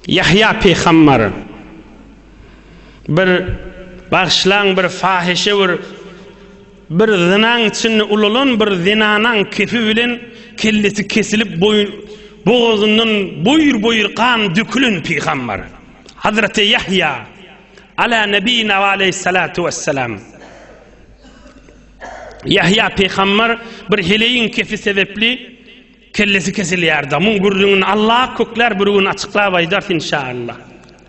Ýahýa pygambar bir, bagyşlaň, bir fahyşa bir, bir zynaň içinde ulalan bir zenanaň kefi bilen kellesi kesilip boýun, bogazyndan boýur-boýur gan dökülen pygambar. Hazreti Ýahýa Ala nebina we aleyhissalatu wesselam. Ýahýa pygambar bir heleýiň kefi sebepli Kellesi kesilýär damyň gürrüňini Alla köklär bir gün açyklap aýdars inşalla.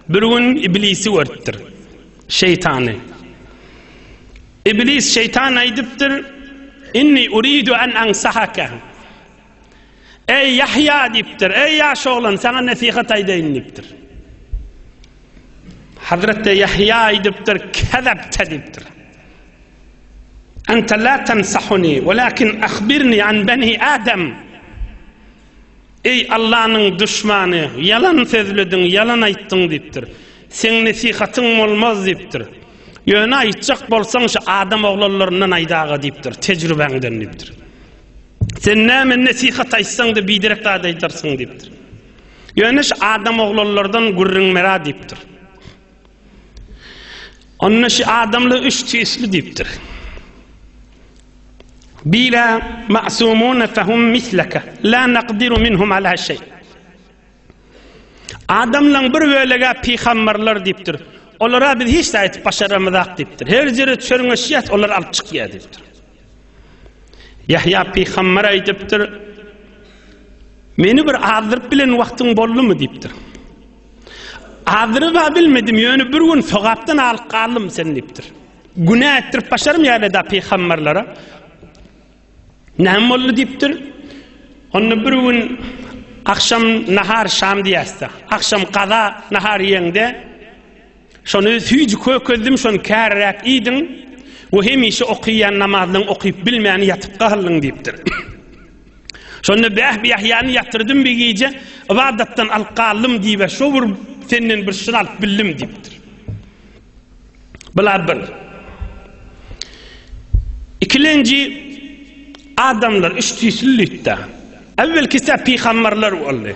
Bir gün iblisi görüpdir. Şeýtany. Iblis şeýtan aýdypdyr inni uridu an ansahaka. Eý Ýahýa diýipdir. Eý ýaş oglan saňa nesihat aýdaýyn diýipdir. Hazreti Ýahýa aýdypdyr kezepte diýipdir. Ente la tensahuni walakin ahbirni an beni Adam. Eý Allanyň duşmany, ýalan sözlediň, ýalan aýtdyň diýipdir. Seň nesihatyň bolmaz diýipdir. Ýöne aýtjak bolsaň şu adam oglanlaryndan aýdaga diýipdir, tejrübäňden diýipdir. Sen näme nesihat aýtsaň-da biderek zat aýdarsyň diýipdir. Ýöne şu adam oglanlardan gürrüň bera diýipdir. Onda şu adamlar üç tüýsli diýipdir. Bila ma'sumun fahum mislaka la naqdiru minhum ala şey. Adamlaryň bir bölegi pygamberler diýipdir. Olara biz hiç zat aýdyp başaramyzak diýipdir. Her ýere çörňeşýär, olar alyp çykýar diýipdir. Yahya pygamber aýdypdyr. Meni bir azdyryp bilen wagtyň boldumy diýipdir. Azyryba bilmedim, ýöne bir gün sogapdan alyp galdym seni diýipdir. Günä etdirip başarym ýa-da da pygamberlere. Näme boldy diýipdir? Onda bir gün akşam nahar şam diýäsde. Akşam gaza nahar ýeňde Şony süýji kökezdim, şony käriräk iýdiň we hemişe okaýan namazlaň okaýyp bilmän ýatyp galdyň diýipdir. Şonda Bäh Ýahýany ýatyrdym bir gije, ybadatdan alyp galdym diýip, şo bir senden bir şyr alyp bildim diýipdir. Bular bir. Ikilenji adamlar üç tüýsli lütda. Äwwelkisi pygamberler boldy.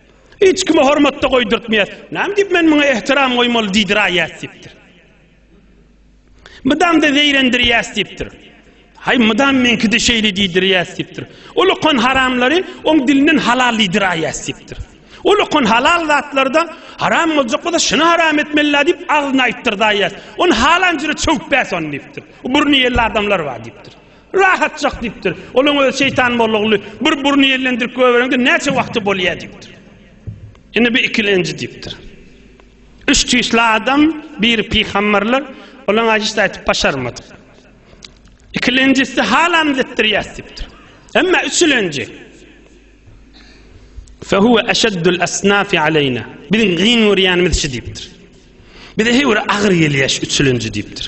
Hiç kime hormat-da goýdurtmaýas. Näme diýip men muňa ähtiram goýmaly diýdiraýýas diýipdir. Mydam-da zeýrendirýäs diýipdir. Haý, mydam meňki-de şeýle diýdirýäs diýipdir. Ol okan haramlary oň dilinden halal diýdiraýýas diýipdir. Ol okan halal zatlary-da haram boljak bolsa şuny haram etmeli-la diýip agzyna aýtdyrdaýýas. Ony halan jüre çöwüp bäs ony diýipdir. Burny ýelli adamlar bar diýipdir. Rahatjak diýipdir. Olaň özi şeýtan mollaguly bir burny ýellendirip göbereňde näçe wagty bolýa diýipdir. Indi bir ikilenji diýipdir. Üç tüýsli adam, biri pygamberler, olaň aýşyşy aýdyp başarmadyk. Ikilenjisi halam zetdirýäs diýipdir. Emma üçülenji Fehuve eşeddül esnafi aleyna. Biziň giň görýänimiz şu diýipdir. Bize heýwir agyr gelýäş üçülenji diýipdir.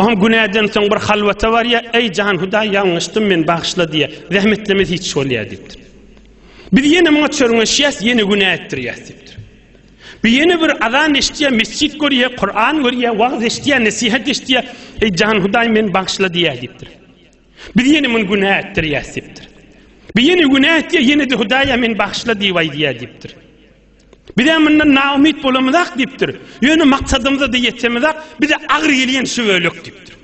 Oňa günäden soň bir halwata barýa, eý jan Hudaý ýalňyşdym men bagyşla diýýä. Zähmetlemez hiç bolýa diýipdir. Biz ýene muňa çörňeşýäs, ýene günä etdirýäs diýipdir. Bir ýene bir azan eşitýä, mesjid görýä, Kur'an görýä, wagz eşitýä, nesihat eşitýä, eý jan Hudaý men bagyşla diýýä diýipdir. Biz ýene muny günä etdirýäs diýipdir. Bir ýene günä etýä, ýene de Hudaýa men bagyşla diýip aýdýa diýipdir. Bizem mundan naumyt bolamyzak diýipdir. Ýöne maksadymyza-da ýetemizak, bize agyr gelýän şu bölek diýipdir.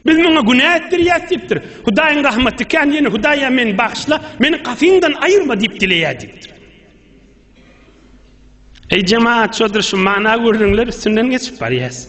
Biz muňa günä etdirýäs diýipdir. Hudaýyň rahmaty kän, ýöne Hudaýa meni bagyşla, meni gapyňdan aýyrma diýip dileýär diýipdir. Eý jemaat, şoldur şu mana gördüňler üstünden geçip barýas.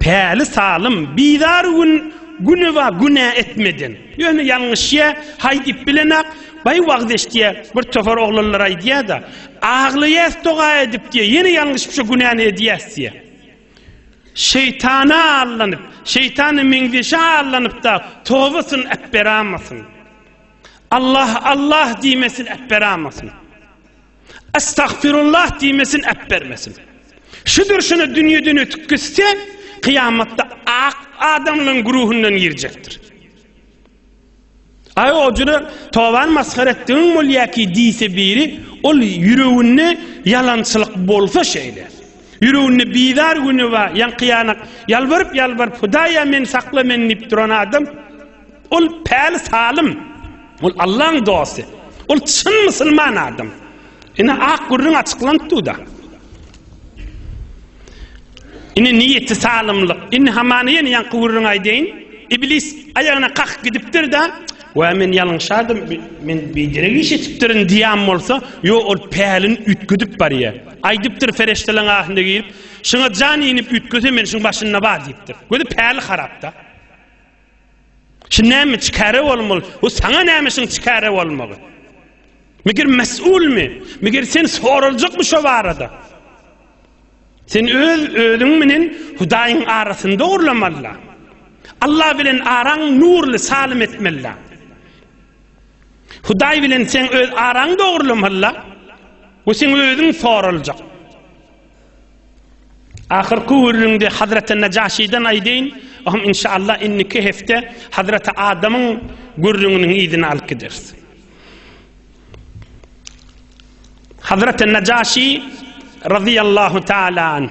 Päli salym, bizar gün Güneba günä etmeden. Ýöne ýalňyşýa, haý diýip bilenok, Baý wagyz eşitýä, bir topar oglanlar aýdýa-da, Aglaýas doga edip diýä, ýene ýalňyşyp şo günäni edýäs diýä. Şeýtana allanyp, şeýtana meňzeşe allanyp-da, tobasyny äpberamasyn. Allah, Allah diýmesin, äpberamasyn. Estagfirullah diýmesin äpbermesin. Şudur şuna dünýeden ötüp gitse, kyýamatda ak adamlaryň güruhundan girjekdir. Aý o jüre toban masgara etdigiň bolýaki diýse biri, ol ýüreginde ýalançylyk bolsa şeýle. Ýüreginde bizar güni bar, ýaňky ýanak ýalbaryp ýalbaryp Hudaýa meni sakla meni diýip duran adam, Ol päli salym. Ol Allaň dosty. Ol çyn musulman adam. Ine ak gürrüň açyklanp dur-da. Ine niýeti salymlyk. Indi hamana ýene ýaňky gürrüňi aýdaýyn. Iblis aýagyna kakyp gidipdir-de, Wä men ýalňyşardym, men biderek iş etipdirin diýen bolsa, ýo ol pälini üýtgedip barýar. Aýdypdyr ferişteleň ahynda girip, Şuňa jan inip üýtgese men şuň başynda bar diýipdir. Gözi päli harap-da. Şu näme çikare bolmaly? Bu saňa näme şuň çikare bolmagy? Meger mesulmy? Meger sen soraljakmy şo barada? Sen öz özüň bilen Hudaýyň arasyny dogurlamalyda. Allah bilen araň nurly salim etmelida. Hudaý bilen sen öz araň dogurlamalyda. Bu sen özüň soraljak. Ahyrky gürrüňde Hazreti Najaşiden aýdaýyn, oňam inşallah indiki hepde Hazreti Adamyň gürrüňiniň yzyny alyp gideris. Hazreti Najaşi radiyallahu taala anh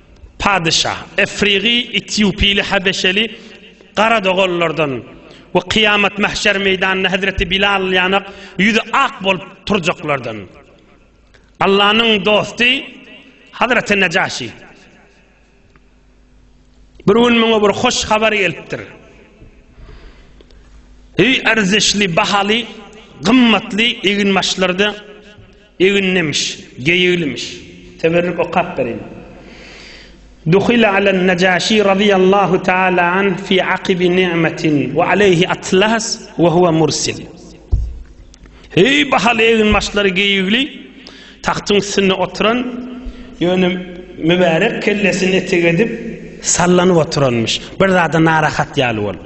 Padyşa, Efrigy, Etýopyly, Habeşeli, gara doganlardan we kyýamat mähşer meýdanynda hezreti Bilal ýanak ýüzi ak bolup turjaklardan. Allanyň dosty Hazreti Nejaşi. Bir gün muňa bir hoş habar gelipdir. Eý erzişli, bahaly, gymmatly eginbaşlarda Eginlimiş, geýiglimiş. Teberrük okap bereýin. Duhile alen Najaşi razyýallahu taala anh fi akibi ni'metin we aleyhi atlas we huve mursil. Heý bahaly egin başlary geýigli tagtyň üstünde oturan ýöne mübärek kellesini etek edip sallanyp oturanmyş. Bir zada narahat ýaly bolup.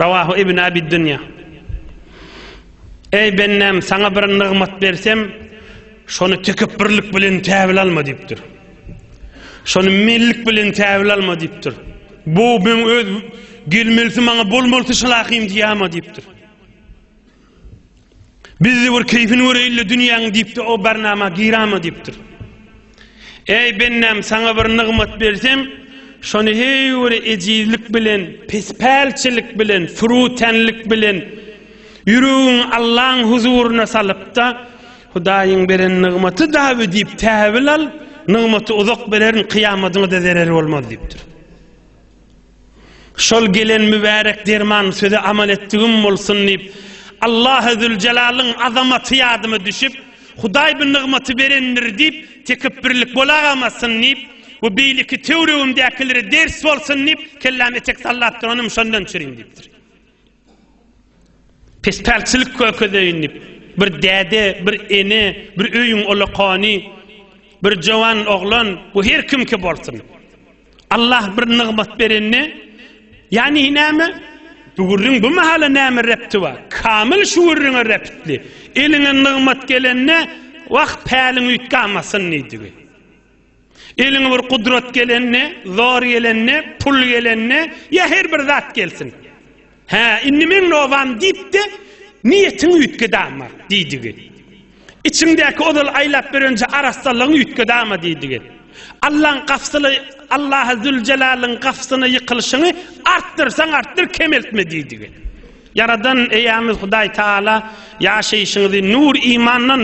Rawahu Ibn Abi Dunýa. Eý, bendäm, saňa bir nygmat bersem, şony tekepbürlik bilen käbir alma diýipdir. Şony mellik bilen käbir alma diýipdir. Bu meň öz gelmelisi maňa bolmalysy şylakym diýýärmi diýipdir. Bizde bir keýfini göreýin-le dünýäň diýip-de o barnama girama diýipdir. Eý bendäm saňa bir nygmat bersem, şony heý bir ejizlik bilen, pespälçilik bilen, fürütenlik bilen ýüregiňi Allaň huzuryna salyp-da, Hudaýyň beren nygmaty daby diýip täwil al, nygmaty uzak bererin, kyýamadyňa-da zereri bolmaz diýipdir. Şol gelen mübärek derman söze amal etdigim bolsun diýip, Allahy Züljelalyn azamaty ýadyma düşüp, Hudaý bu nygmaty berendir diýip, tekepbirlik bolagamazsyn diýip we beýleki töwregimdäkilere ders bolsun diýip, kelläme etek sallap duranym şondan çürin diýipdir. Pespälçilik kökezeýin diýip, bir däde, bir ene, bir öýüň ulakany, bir jowan oglan, bu her kimki bolsun, Allah bir nygmat berende, ýagny näme, bu gürrüň bu mahala näme repti bar? Kamyl şu gürrüňe reptli. Eliňe nygmat gelende, Wah, päliň üýtgamasyn diýdigi. Eliňe bir gudrat gelende, zor gelende, pul gelende, ýa her bir zat gelsin. Hä, indi meň nobam diýip-de, niýetiňi üýtgedama diýdigi. Içiňdäki ozal aýlap berenje arassalygyňy üýtgedama diýdigi. Allaň gapysly Allahy Züljelalyn gapysyna ýykylyşyňy artdyrsaň artdyr, kemeltme diýdigi. Ýaradan eýämiz Hudaý Taala ýaşaýşyňyzy nur imandan